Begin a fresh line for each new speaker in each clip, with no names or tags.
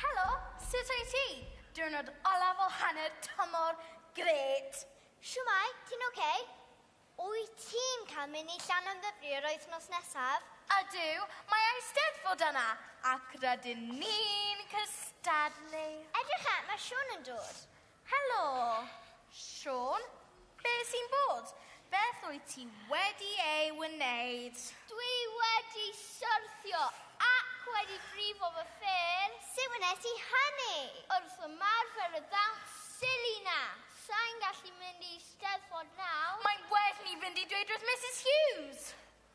Helo, sut wyt ti? Diwrnod olaf o hanner tymor, gret! Shwmae, ti'n ok? Wyt ti'n cael mynd i Llanymddyfri yr wythnos nesaf? Ydw, mae Eisteddfod yna, ac rydyn ni'n cystadlu! Edrycha, mae Siôn yn dod. Helo! Siôn? Be sy'n bod? Beth wyt ti wedi ei wneud? Dwi wedi syrthio ac wedi brifo fy ffêr. Sut wnes i hynny? Wrth ymarfer y ddawns silly na! Sai'n gallu mynd i Steddfod nawr. Mae'n well ni fynd i dweud wrth Misus Hughes!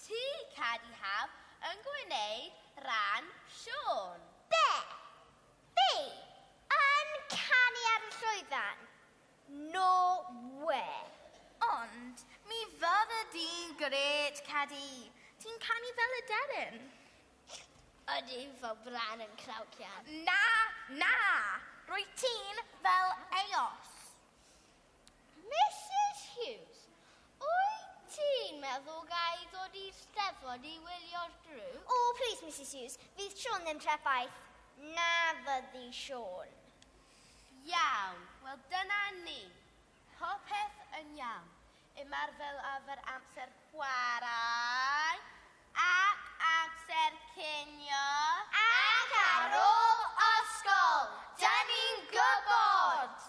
Ti, Cadi Haf, yn gwneud rhan Siôn. Be? Fi? Yn canu ar y llwyfan? No wê! Ond mi fydde di'n grêt, Cadi. Ti'n canu fel aderyn. Ydy, fel Bran yn Craucian. Na, na! Rwyt ti'n fel Eos. Misus Hughes, wyt ti'n meddwl ga i ddod i'r Steddfod i wylio'r grŵp? O, plis, Misus Hughes, fydd Siôn ddim trebaith. Na fyddi, Siôn. Iawn, wel dyna ni. Popeth yn iawn. Ymarfer efo'r amser chwarae. Ac amser cinio. Ac ar ôl ysgol. Dyn ni'n gwybod!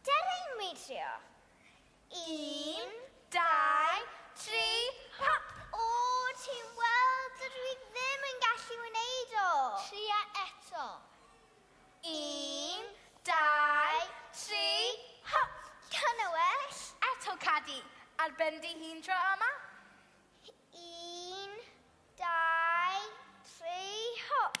Ger ein widio. Un, dau, tri, hop! O, ti'n weld, dydw i ddim yn gallu wneud o. Tria eto. Un, dau, tri, hop! Dyna well. Eto, Cadi. Ar ben dy hun tro yma. Un, dau, tri, hop!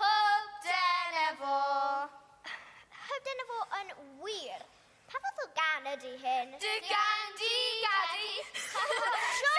Hyb dyna fo! Hyb dyna fo yn wir! Pa fath o gan ydy hyn? Dy gan di, Gadi! Siôn!